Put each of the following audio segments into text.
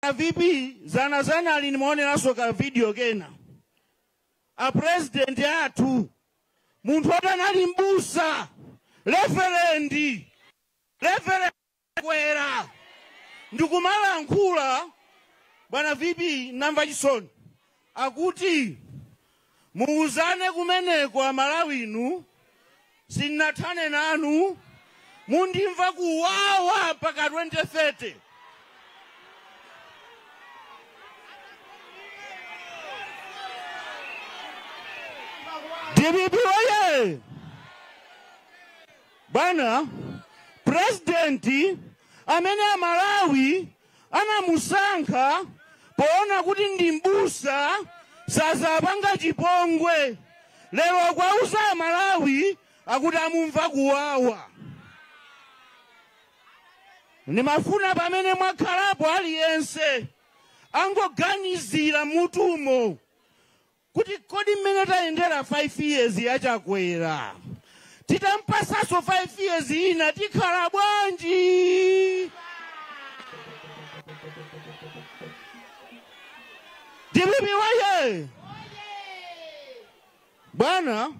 Bwana vp zanazana ali ndimaoneranso ka video kena a president athu munthu oti anali mbusa reverendi reverendi Chakwera ndikumalankhula bwana vp namva chisoni Akuti muuzane kumeneko amalawi inu sinathane nanu mundimva kuwawa mpaka 2030. Dpp oye! Bwana president amene amalawi anamusankha poona kuti ndi m'busa sazapanga chipongwe lero akuwauza amalawi akuti amumva kuwawa ndimafuna pamene mwakhalapo aliyense angoganizira mutumo kuti kodi mmene tayendera 5 years ya Chakwera titampasaso 5 years ina tikhala bwanji? Dpp woye! Bwana,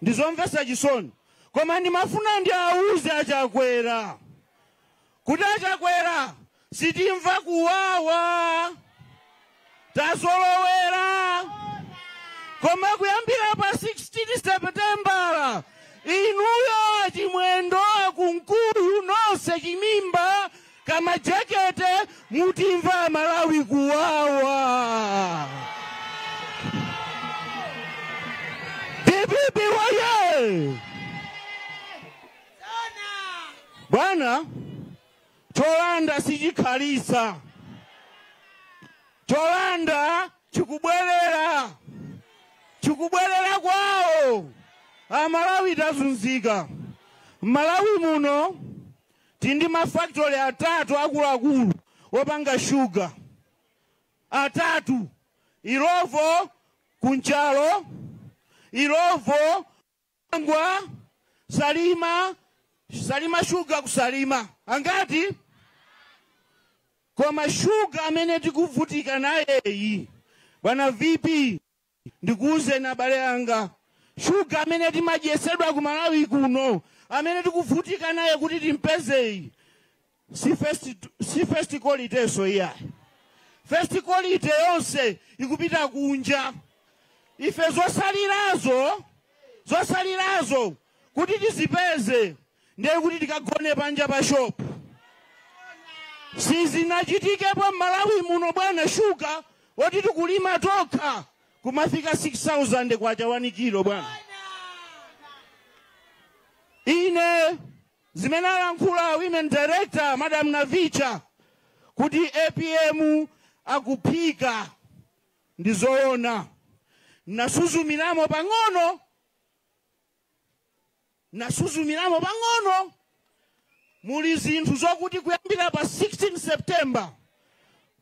ndizomvesa chisoni koma ndimafuna ndiwauze achakwera Kuti a Chakwera sitimva kuwawa tazolowera koma kuyambira pa 16 seputembala inuyo achimwendo akunkuyu nonse chimimba kamajekete mutimva amalawi kuwawa dpp woye Bwana, cholanda sichikhalisa, cholanda chikubwerera, chikubwerera kwawo. Amalawi tazunzika. M'Malawi muno tili ndi mafakitole atatu akuluakulu opanga shuga, atatu, Illovo ku Nchalo, Illovo Dwangwa, Salima, Salima Sugar ku Salima. Angati? Koma shuga amene tikuvutika nayeyi, bwana VP, ndikuwuzeni abale anga, shuga amene timadyesedwa ku Malawi kuno, amene tikuvutika naye kuti timpezeyi, si first, si first qualityso iyayi first quality yonse ikupita kunja ife zosalirazo kuti tizipeze ndiye kuti tikagone panja pa shopu sizinachitikepo m'malawi muno bwana shuga woti tikulima tokha kumafika 6000 kwacha wani kilo bwana ine Zimene alankhula women director Madam Navicha kuti apm akuphika ndi zoona. Nasuzumiramo pang'ono, muli zinthu zokuti kuyambira pa 16 September,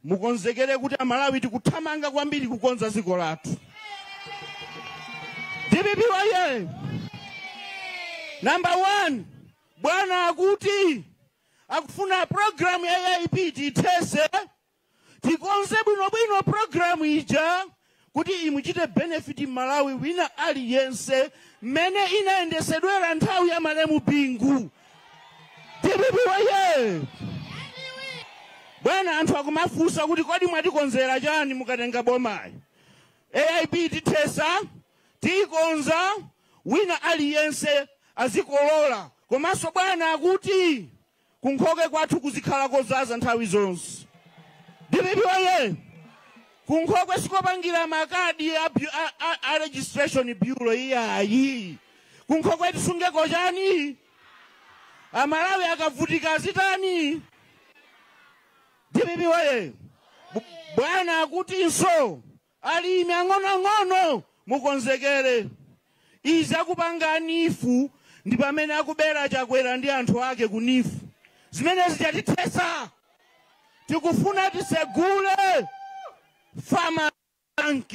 mukonzekere kuti amalawi tikuthamanga kwambiri kukonza dziko lathu dpp woye number one bwana akuti akufuna programu ya aip tithese tikonze bwinobwino programu ija kuti imuchite benefit m'malawi wina aliyense mmene inayendesedwera nthawi ya malemu bingu dpp woye bwana anthu akumafunsa kuti kodi mwatikonzera chani mukatenga bomayi aip tithesa tiyikonza wina aliyense azikolola komanso bwana akuti Kunkhokwe kwathu kuzikhala kozaza nthawi zonse. Dpp woye! Kunkhokwe sikopangira makadi a registration bureau iyayi. Kunkhokwe tisungeko chani? Amalawi akavutika azitani? Dpp woye! Bwana akutinso Alimi ang'onoang'ono mukonzekere izi akupanga a neef ndi pamene akubera chakwera ndi anthu ake ku neef zimene zija tithesa tikufuna tisegule farmers bank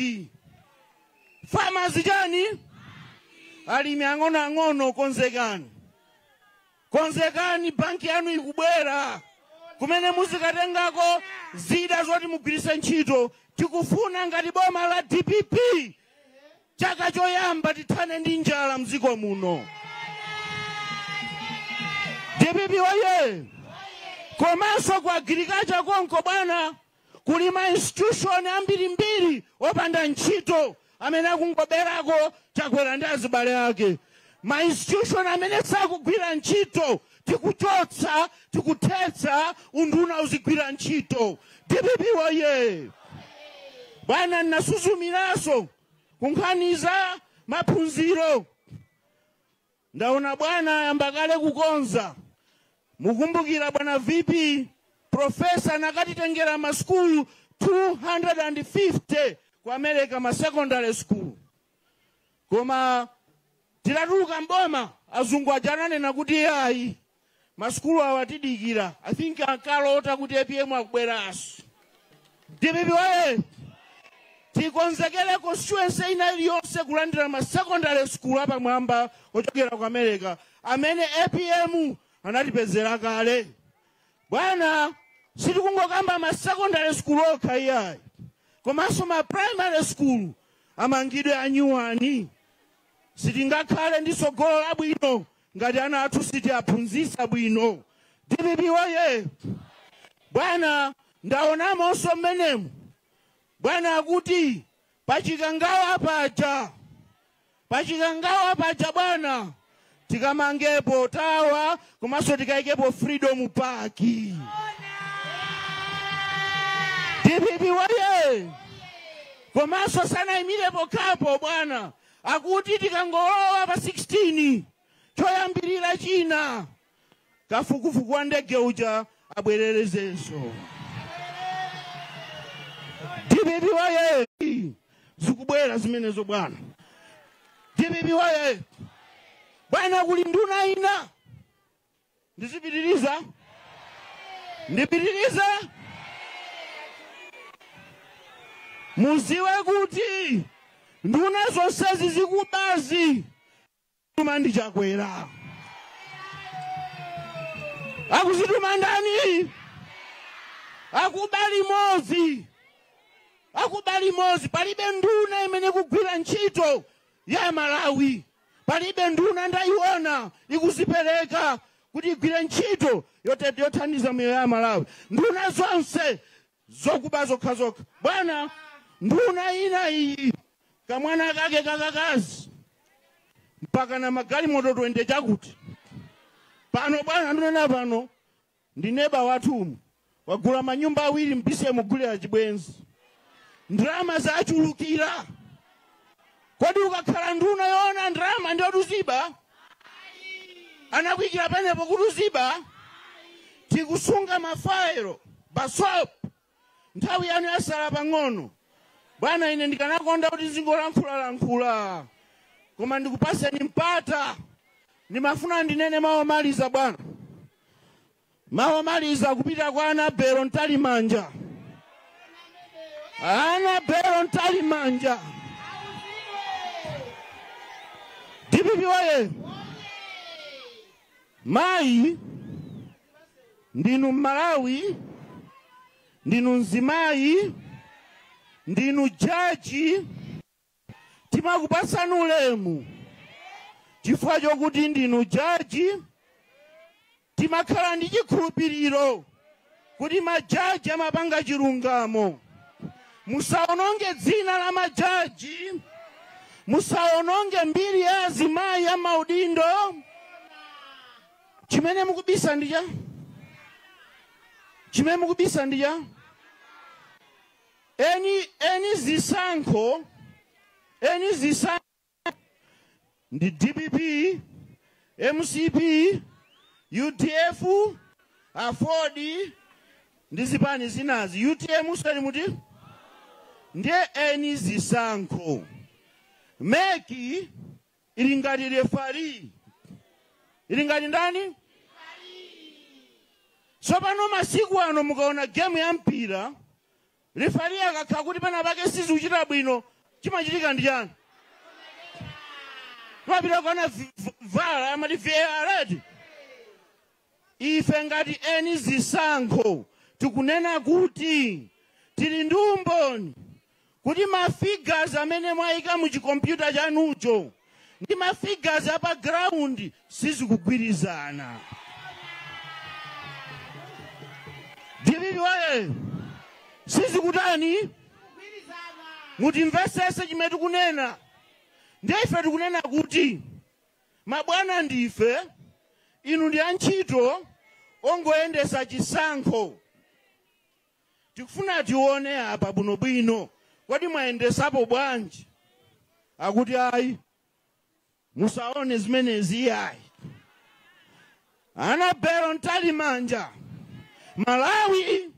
farmers chani alimi ang'onoang'ono konzekani. Konzekani, banki yanu ikubwera kumene muzikatengako zida zoti mugwiritse ntchito. Tikufuna ngati boma la dpp chaka choyamba tithane ndi njala mdziko muno. Dpp oye! Komanso ku agriculture konko bwana, Kuli ma institution ambirimbiri opanda ntchito amene akungoberako Chakwera ndi azibale ake. Ma institution amene sakugwira ntchito tikuchotsa, tikuthetsa, unduna uzigwira ntchito. Dpp woyee! Bwana nasuzumiranso ku nkhani za maphunziro. Ndaona bwana ayamba kale kukonza. Mukumbukira bwana VP, Professor anakatitengera ma school 250 ku America ma secondary school. Koma titatuluka m'boma azungu aja ananena kuti ayi Masukulu awa atidikira. I think ankalota kuti apm akubweraso. Dpp woyee! Tikonzekere constituency ina iliyonse kulandira ma secondary school apamwamba ochokera ku America amene apm anatipezera kale. Bwana, sitikungokamba ma secondary school okha iyayi, komanso ma primary school amangidwe anyuwani. Sitingakhale ndi tsogolo labwino Ngati ana athu sitiaphunzisa bwino dpp woyee bwana ndaonamonso mmenemo bwana akuti pachikangawa paja pachikangawa paja bwana tikamangepo tawa komanso tikaikepo freedom park dpp woyee komanso sanaimirepo kapo bwana Akuti tikangolowa pa 16 choyambirira china kafukufuku wa ndege uja abwererezenso. Dpp woyee zikubwera zimenezo bwana. Dpp woyee bwana, kuli nduna ina Ndizipitiriza? Ndipitirize? Muziwe kuti nduna zonsezi zikubazi zikutumwa ndi Chakwera. Akuzituma ndani? Akuba limodzi. Akuba limodzi palibe nduna imene ikugwira ntchito ya Malawi. Palibe nduna ndaiona ikuzipereka kuti igwire ntchito yotet yothandiza miyoyo ya amalawi. Nduna zonse zokuba zokhazokha. Bwana nduna ina iyi kamwana kake kakakazi mpaka na magalimoto 20 chakuti. Pano bwana nduna pano. ndi neba wathu umu wagula manyumba awiri mphwitsi kumugulira chibwenzi ndalama zachulukira kodi ukakhala nduna yoona ndalama ndiye kuti uziba anakuyikira panepo kuti uziba tikusunga mafayelo basop Nthawi yanu yasala pang'ono. Bwana, ine ndikanakonda kuti zingolankhulalankhula, koma ndikupaseni mpata. Ndimafuna ndinene mawu omaliza, bwana, mawu omaliza kupita kwa Anabelo Ntalimanja. Anabelo Ntalimanja, DPP oye! Mayi ndinu Mmalawi, ndinu mzimayi, ndinu jaji. Timakupatsani ulemu chifukwa chokuti ndinu jaji. Timakhala ndi chikhulupiriro kuti majaji amapanga chilungamo musaononge dzina la majaji musaononge mbiri ya azimayi ya maudindo chimene mukubisa ndi chani chimene mukubisa ndi chani eni zisankho eni zisankho ndi dpp mcp udf aford ndi zipani zinazi utm usali muti ndiye eni zisankho meki ili ngati refari ili ngati ndani tsopano masiku ano mukaona gemu ya mpira Refari akakhala kuti penapake sizikuchita bwino chimachitika ndi chani? Timapita kukaona v- v- VAR amati VAR eti. Ife ngati eni zisankho tikunena kuti tili ndi umboni kuti ma figures amene mwayika mu chikompyuta chanucho ndi ma figures a pa ground sizikugwirizana dpp oye sizikutani mutimvesese chimene tikunena ndiye ife tikunena kuti mabwana ndife inu ndi antchito ongoyendesa chisankho tikufuna tione apa bwinobwino kodi mwayendesapo bwanji akuti ayi musaone zimenezi iyayi anabelo ntalimanja malawi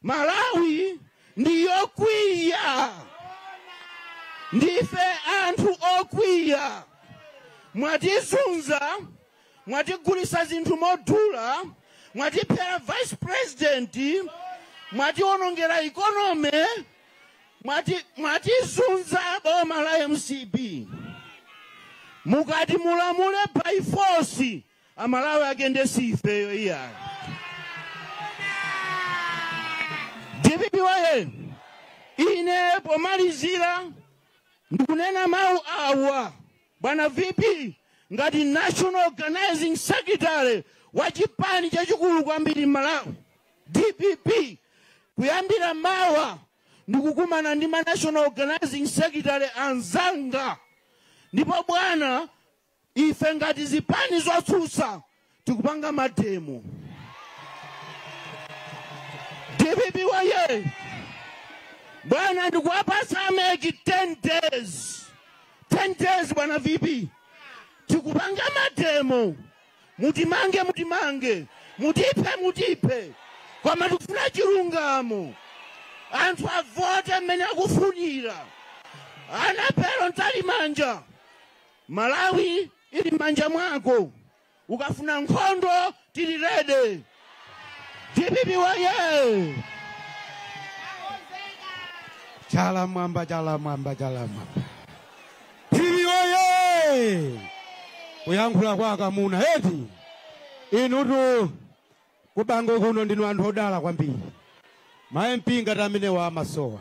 malawi ndi yokwiya ndife anthu okwiya mwatizunza mwatigulisa zinthu modula mwatiphera vice president mwatiwonongera economy mwati mwatizunza boma la mcp mukati mulamule by force amalawi agende siifeyo iyayo dpp woyee ine pomalizira ndikunena mawu awa Bwana VP, ngati National Organizing Secretary wa chipani chachikulu kwambiri m'Malawi, dpp, kuyambira mawa ndikukumana ndi ma National Organizing Secretary anzanga ndipo bwana, ife ngati zipani zotsutsa tikupanga mademo dpp woyee bwana ndikuwapasa a MEC 10 days 10 days bwana vp tikupanga mademo mutimange mutimange mutiphe mutiphe koma tikufuna chilungamo anthu avote mmene akufunira Annabel mtalimanja malawi ili mmanja mwako ukafuna nkhondo tili ready dpp woyee chala mwamba chala mwamba chala mwamba dpp woyee kuyankhula kwa akamuna eti inutu kubangwe kuno ndinu anthu odala kwambiri ma mp ngati amenewa amasowa